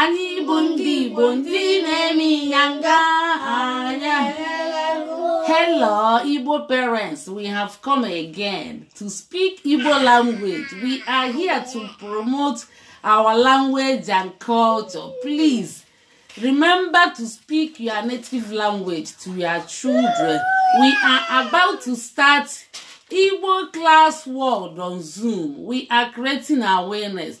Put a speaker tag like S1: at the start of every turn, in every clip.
S1: anyị bụ ndị igbo ndị na-eme ịnyanga anya hello igbo parents we have come again to speak igbo language we are here to promote our language and culture please remember to speak your native language to your children we are about to start igbo class world on zoom we are creating awareness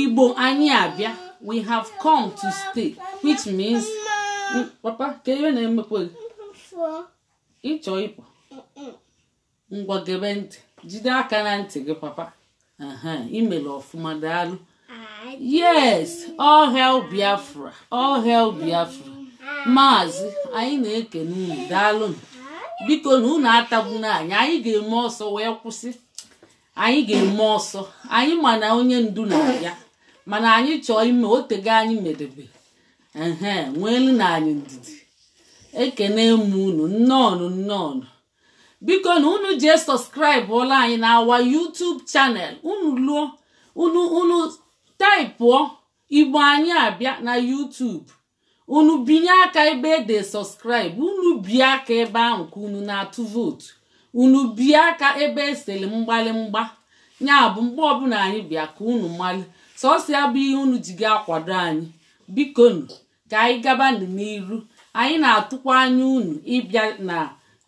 S1: igbo anyị abịa we have come to stay which means papa kee ihe na-emekwa gị ị chọ ịpụ ngwa gebe ntị jide aka na ntị gị papa i mere ọfụma daalụ yes all hail biafra all hail biafra maazị anyị na-ekene unu daalụ bikonu unu atagbuna anyị anyị ga-eme ọsọ wee kwụsị anyị ga-eme ọsọ anyị ma na onye ndu na-abịa mana anyị chọọ ime o teego anyị medebe ehe nweelụnụ anyị ndidi ekene m unu nnọọ nnọọ bikonu unu jee subscribe-ọla anyị na our YouTube channel unu luo unu unu taịpụọ igbo anyị abịa na YouTube unu binye aka ebe e de subscribe unu bie aka ebe ahụ ka unu na-atụ vootu unu bie aka ebe e sere mgbalimgba ya bụ mgbe ọbụla anyị bịa ka unu mali sọsọ ya bụ ihe unu ji ga-akwado anyị bikonu ka anyị gaba n'iru anyị na-atụkwa anya unu ịbịa na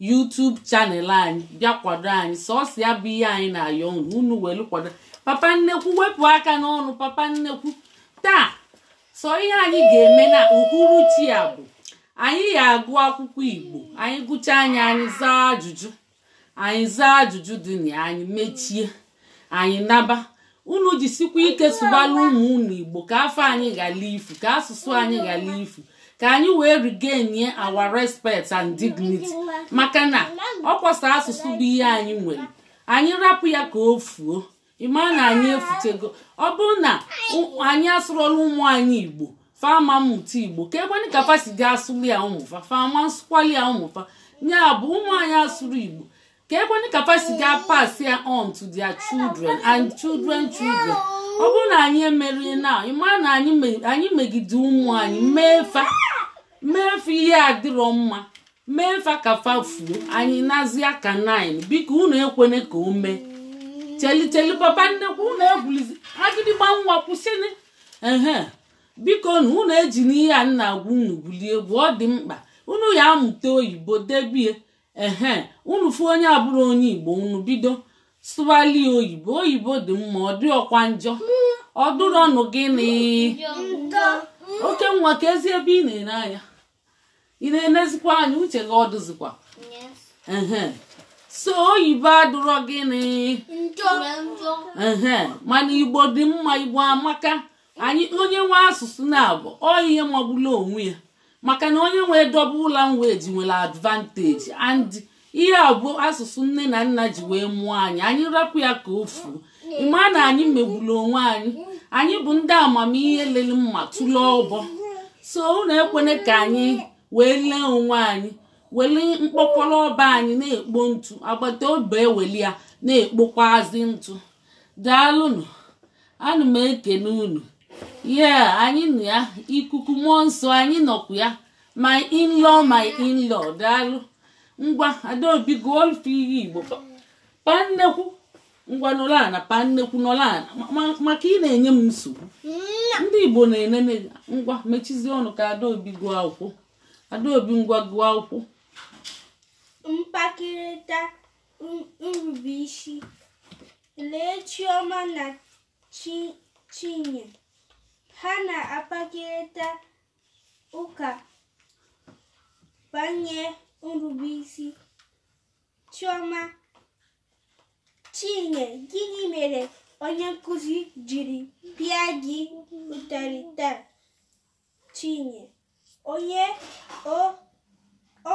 S1: YouTube channel anyị bịa kwado anyị sọsọ ya bụ ihe anyị na-ayọ unu unu welu kwado papa nnekwu wepụ aka n'ọnụ papa nnekwu taa so ihe anyị ga-eme na uhuruchi a bụ anyị ya-agụ akwụkwọ igbo anyị gụchaa ya anyị zaa ajụjụ anyị zaa ajụjụ dị na anyị mechie anyị naba unu jisikwa ike sụbalụ ụmụ unu igbo ka afa anyị ghara ifu ka asụsụ anyị ghara ifu ka anyị wee regain our respect and dignity maka na ọkwa sọ asụsụ bụ ihe anyị nwere anyị rapụ ya ka o fuo ị ma na anyị efutego ọ bụrụ na ụ- anyị asụrọlụ ụmụ anyị igbo fa ama mmụta igbo kee kwanị ka fa si ga-asụrụ ya ụmụ fa fa ama nsụkwalị ya ụmụ fa ya bụ ụmụ anyị asụrọ igbo kee kwanị ka fa si ga pass ya on to their children and children children ọ bụrụ na anyị emerọ ihe a ị ma na anyị me- anyị megide ụmụ anyị mee fa mee fa ihe adịrọ mma mee fa ka fa fuo anyị nazi aka 9 biko unu ekwene ka o mee cheli cheli papa nnekwu unu egwulizi agịdịgba nwa kwụsịnị ehe bikonu unu ejina ihe a na-agwa unu gwulie egwu ọ dị mkpa unu ya-amụta oyibo debie ehe unu fụ onye abụrọ onye igbo unu bido sụwalị ya oyibo oyibo dị mma ọ dịrọkwa njọ ọ dụrọnụ gịnị oke nwa keezi ebe ị na-ene anya ị na-enezikwa anya uche gị ọ dịzikwa Yes. ehe so oyibo adụrọ gịnị Njọ. Njọ. ehe mana igbo dị mma igbo amaka anyị onye nwe asụsụ naabọ ọ ihe magbulu onwe ya maka na onye nwe double language nwere advantage and ihe a bụ asụsụ nne na nna ji wee mụọ anyị anyị rapụ ya ka o fuo ị ma na anyị megbulu onwe anyị anyị bụ ndị amamihe lele mma tụle ọbọ so unu ekwene ka anyị wee lee onwe anyị weli mkpọkọlọ ọba anyị na-ekpo ntụ agbata obi eweli ya na-ekpokwazi ntụ daalụnụ ana m ekene unu ye anyị nọ ya ikuku mmụọ nsọ anyị nọkwa ya my in-law my in-law daalụ ngwa adaobi gụọ ife ihe igbo paa nnekwu ngwa nọrọ ana paa nnekwu nọrọ ana ma- ma- maka ị na-enye m nsogbu ndị igbo na-enene gị. ngwa mechizie ọnụ ka adaobi gụọ akwụkwọ adaobi ngwa gụọ akwụkwọ
S2: mkpakịrịta n- nrubeisi lee chioma na Chi- chinye ha na-akpakịrịta ụka banye nrubeisi chioma chinye gịnị mere onye nkụzi jiri pịa gị ụtarị taa chinye onye o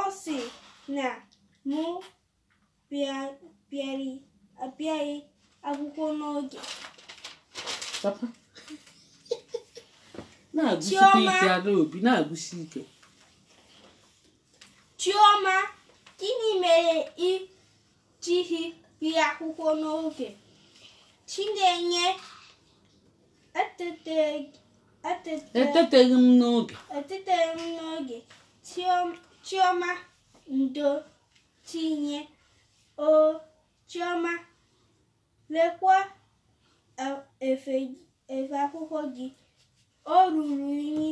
S2: ọ sị na mụ abịaghị
S1: akwụkwọ n'oge
S2: Chioma gịnị mere ị jighị bịa akwụkwọ n'oge Chinenye
S1: eteteghị m n'oge eteteghị m n'oge
S2: Chioma ndo Chinye, O Chioma, lekwa e- efe efe akwụkwọ gị. O ruru unyi.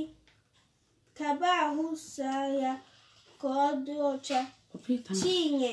S2: Kaba ahụ saa ya ka ọ dị ọcha. Chinye,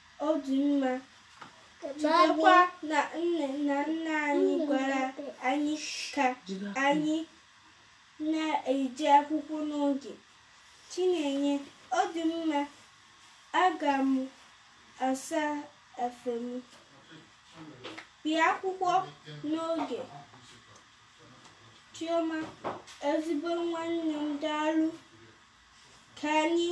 S2: ọ dị mma chetakwa na nne na nna anyị gwara anyị ka anyị na-eje akwụkwọ n'oge chinenye ọ dị mma aga m asa efe m bịa akwụkwọ n'oge chioma ezigbo nwanne m daalụ ka anyị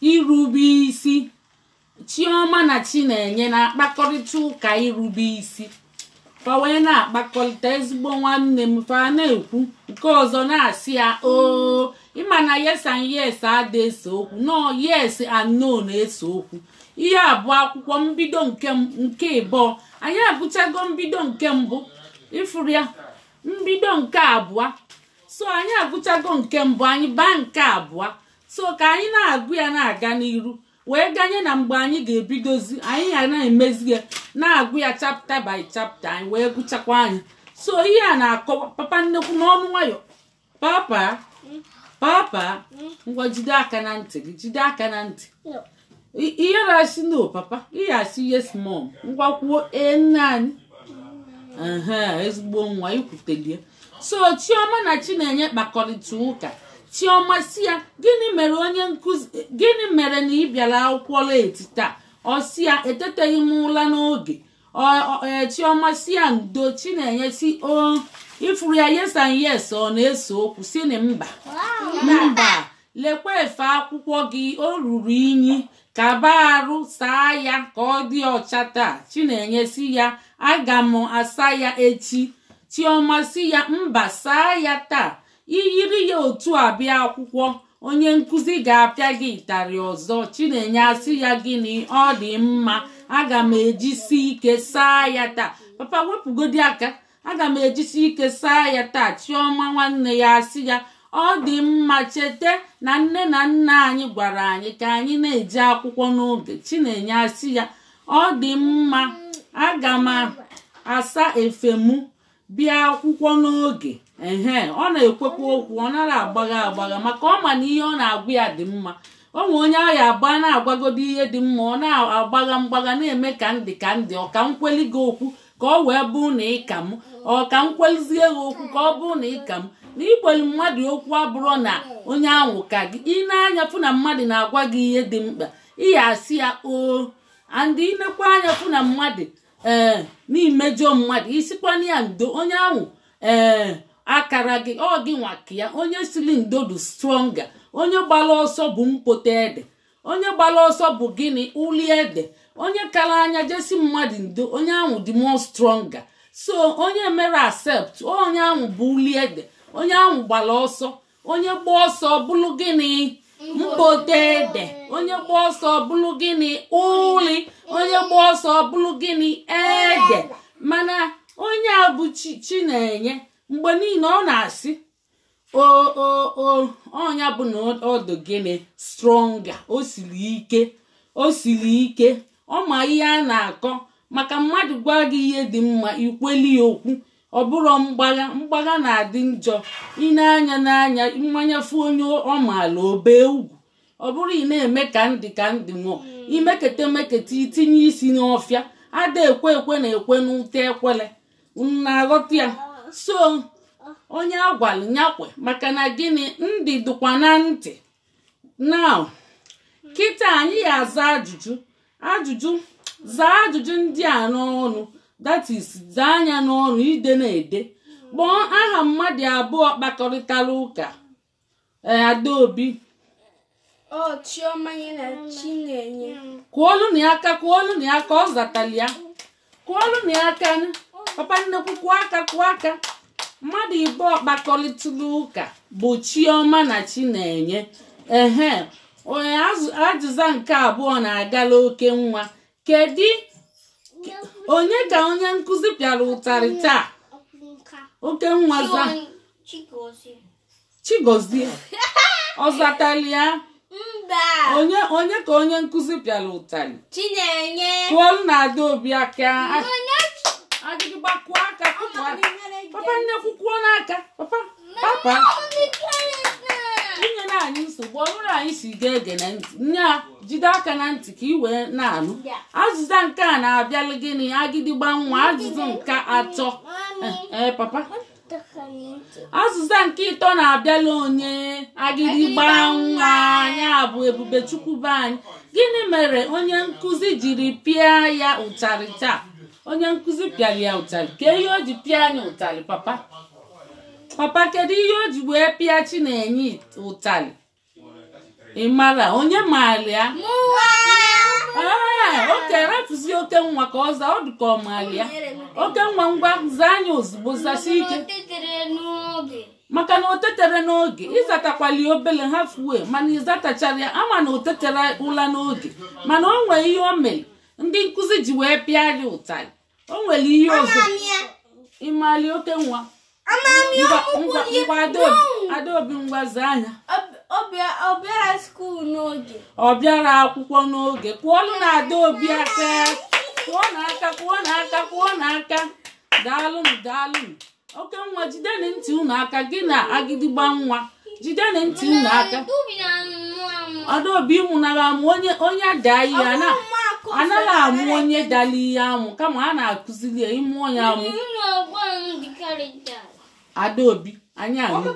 S1: irube isi chioma na chinenye na-akpakọrịta ụka irube isi fa wee na-akpakọrịta ezigbo nwanne m fa na-ekwu nke ọzọ na-asị ya oo ị ma na yes and yes ada ese okwu no yes and no na-ese okwu ihe a bụ akwụkwọ mbido nke m- nke ịbụọ anyị agụchago mbido nke mbụ ị fụrụ ya mbido nke abụọ so anyị agụchago nke mbụ anyị baa nke abụọ so ka anyị na-agụ ya na-aga n'iru wee ganye na mgbe anyị ga-ebidozi anyị ya na-emezi ya na-agụ ya chapter by chapter anyị wee gụchakwaa nya so ihe a na-akọwa papa nnekwu nọnụ nwayọ papa papa ngwa jide aka na ntị gị jide aka na ntị ị ya na-asị no papa ị ya asị yes mom ngwa kwuo ee nne anyị ezigbo nwa i kwutelie so chioma na chinenye kpakọrịta ụka chioma sị ya gịnị mere onye nkụzi gịnị mere na ị bịara akwụkwọ late taa ọ sị ya eteteghị m ụla n'oge e, chioma sị ya ndo chinenye sị o ị fụrụ ya yes and yes ọ na-ese okwu sị na mba mba lekwa efe akwụkwọ gị o ruru inyi kabaa arụ saa ya ka ọ dị ọcha taa chinenye sị ya aga m asa ya echi chioma sị ya mba saa ya taa i yiri ya otu a bịa akwụkwọ onye nkụzi ga-apịa gị ịtarị ọzọ chinenye asị ya gịnị ọ dị mma aga m ejisi ike saa ya taa papa wepụgodi aka aga m ejisi ike saa ya taa chiọma nwanne ya asị ya ọ dị mma cheta na nne na nna anyị gwara anyị ka anyị na-eje akwụkwọ n'oge chinenye asị ya ọ dị mma aga m asa efe mụ bịa akwụkwọ n'oge ehe ọ na-ekwekwa okwu ọ nara agbagha agbagha maka ọ ma na ihe ọ na-agwa ya dị mma o nwee onye ahụ agba na-agwagodo ihe dị mma ọ na-agbagha mgbagha na-eme ka ndị ka ndị ọ ka m kweli gị okwu ka ọ wee bụ na ị ka m ọ ka m kwelizie gị okwu ka ọ bụ na ị ka m na ikweli mmadụ okwu abụrọ na onye ahụ ka gị i nee anya fụ na mmadụ na-agwa gị ihe dị mkpa ị ya asị ya oo and i nekwaa anya fụ na mmadụ ee na i mejọọ mmadụ ị sịkwanụ ya ndo onye ahụ ee akara gị ọ gịnwa ka ya onye sịlị ndo dị stronger onye gbara ọsọ bụ mkpote ede onye gbara ọsọ bụ gịnị uli ede onye kara anya je sị mmadụ ndo onye ahụ dị more stronger so onye mere accept onye ahụ bụ uli ede onye ahụ gbara ọsọ onye gba ọsọ bụrụ gịnị mkpote ede onye gba ọsọ bụrụ gịnị uli onye gba ọsọ bụrụ gịnị ede mana onye a bụ chinenye mgbe niile ọ na-asị o o o ọ nya bụ na ọ dụ gịnị stronger o siri ike o siri ike ọ ma ihe a na-akọ maka mmadụ gwa gị ihe dị mma i kweli ya okwu ọ bụrụ mgbagha mgbagha na-adị njọ i nee anya n'anya mmanya fụ onye ọ maala obee ugwu ọ bụrụ ị na-eme ka ndị ka ndị mụọ i mekete mekete i tinye isi n'ọfịa ada ekwe ekwe na-ekwe n'ute ekwele na-aghọta ya so onye a gwalụ nya kwe maka na gịnị ndụ dụkwa na ntị now kịta anyị ya-aza ajụjụ ajụjụ zaa ajụjụ ndị a n'ọnụ that is zaa nya n'ọnụ edena ede kpọọ aha mmadụ abụọ kpakọrịtara ụka ee
S2: Adaobi Ọ Chiọma nya na Chinenye. kụọlụnụ
S1: ya aka kụọlụnụ ya aka ọ zatali ya kụọlụnụ ya aka nụ. papa nnekwu kụọ aka kụọ aka mmadụ ịbụọ kpakọrịtara ụka bụ Chiọma na Chinenye ehe onye azụ- azịza nke abụọ na-agala oke nwa kedu onye ka onye nkụzi pịara ụtarị taa oke nwa zaa Chigozie. Chigozie ọ zatali ya Mba. onye onye ka onye nkụzi pịara ụtalị Chinenye.
S2: kụọlụnụ
S1: Adaobi aka Agịdịgba kụọ aka kụọ aka papa nnekwu kụọnụ aka papa papa enyena anyị nsogbu ọ bụrụ anyị sị gị gee ntị nye a jide aka na ntị ka ị wee na-anụ azịza nke a na-abịalụ gịnị agịdịgba nwa azịza nke atọ ee papa azịza nke ịtọ na-abịala onye agịdịgba nwa nya bụ Ebubechukwu be anyị gịnị mere onye nkụzi jiri pịa ya ụtarị taa onye nkụzi pịara ya ụtarị kee ihe o ji pịa nya ụtarị papa papa kedu ihe o ji wee pịa Chinenye ụtarị ị marọ onye maara ya ee okay rapụzi oke nwa ka ọ zaa ọ dị ka ọ maara ya oke nwa ngwa zaa nya ozugbo zasie ike maka na o tetarọ n'oge ị zatakwali obele ha fuwe mana ị zatacharọ ya a ma na o tetarọ ụla n'oge mana o nwere ihe o mere ndị nkụzi ji wee pịa ya ụtarị o nwere ihe ọzọ ị mali oke nwa Adaobi ngwa zaa nya ọ bịarọ akwụkwọ n'oge kụọlụnụ Adaobi aka kụọnụ aka kụọnụ aka kụọnụ aka daalụnụ daalụnụ oke nwa jideni ntị unu aka gị na agịdịgba nwa jideni ntị unu aka Adaobi amụnala amụ onye onye daa ihe a na- a naghị amụ onye dara ihe amụ kama a na-akụziri ya ị mụọ nya amụ Adaobi anyị anụgo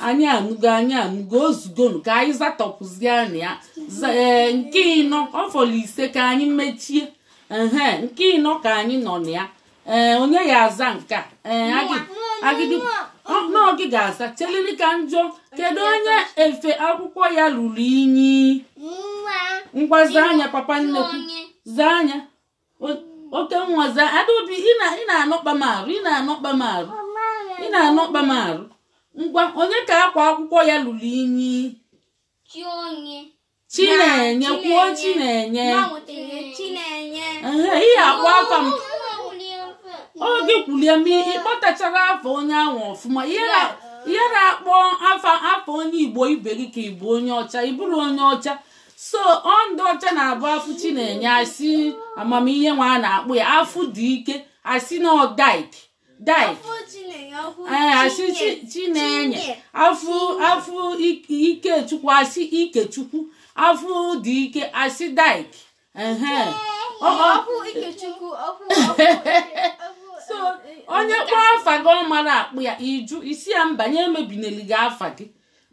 S1: anyị anụgo anyị anụgo o zugonu ka anyị zatọpụzie nya Za- ee, nke ịnọ ọ fọrọ ise ka anyị mechie ehe nke ịnọ ka anyị nọ na ya ee onye ya-aza nke a ee agị- agịdị ọ na ọ gị ga-aza chelinụ ka m jụọ kedu onye efe akwụkwọ ya lulu inyi Nwa. ngwa zaa nya papa nnekwu Onye. zaa nya O- oke nwa zaa Adaobi ị na- ị na-anọkpa m arụ ị na-anọkpa m arụ ị na-anọkpa m arụ ngwa onye ka akwa akwụkwọ ya lulu inyi Chi onye. Chinenye kwuo Chinenye ị ya-akpọ aka m oge kwulie m ị kpọtacharọ afa onye ahụ ọfụma ị ya na-akpọ afa onye Igbo ibe gị ka ị bụ onye ọcha ị bụrọ onye ọcha so ọ ndị ọcha na-abụ a fụ Chinenye a sị ama m ihe wa na-akpọ ya a fụ Dike a sị na ọ Dyke Dyke a sị Chinenye a fụ a fụ Ikechukwu a sị Ikechukwu a fụ Dike a sị Dyke so onye kpọọ afa gị ọ marọ akpọ ya ị jụ ị sị ya mba nya emebineli gị afa gị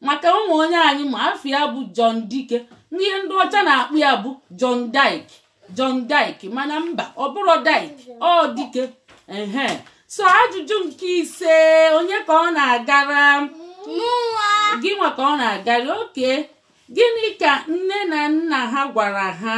S1: maka o nwe onye anyị ma afa ya bụ John Dike ihe ndị ọcha na-akpọ ya bụ John Dyke John Dyke mana mba ọ bụrọ Dyke ọ Dike ehe so ajụjụ nke ise onye ka ọ na-agara gị nwa ka ọ na-agara okay gịnị ka nne na nna ha gwara ha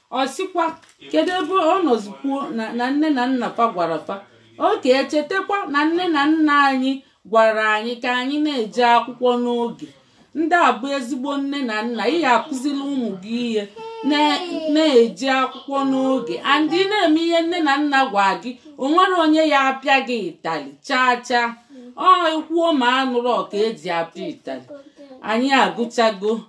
S1: ọ sịkwa kedu ebe ọ nọzikwuo na na nne na nna fa gwara fa okay chetakwa na nne na nna anyị gwara anyị ka anyị na-eje akwụkwọ n'oge ndị a bụ ezigbo nne na nna ị ga-akụziri ụmụ gị ihe na- na-eje akwụkwọ n'oge and ị na-eme ihe nne na nna gwa gị o nwerọ onye ya-apịa gị ịtali chaa chaa ọ ekwuo ma anụrọ ka e ji apịa ịtali anyị agụchago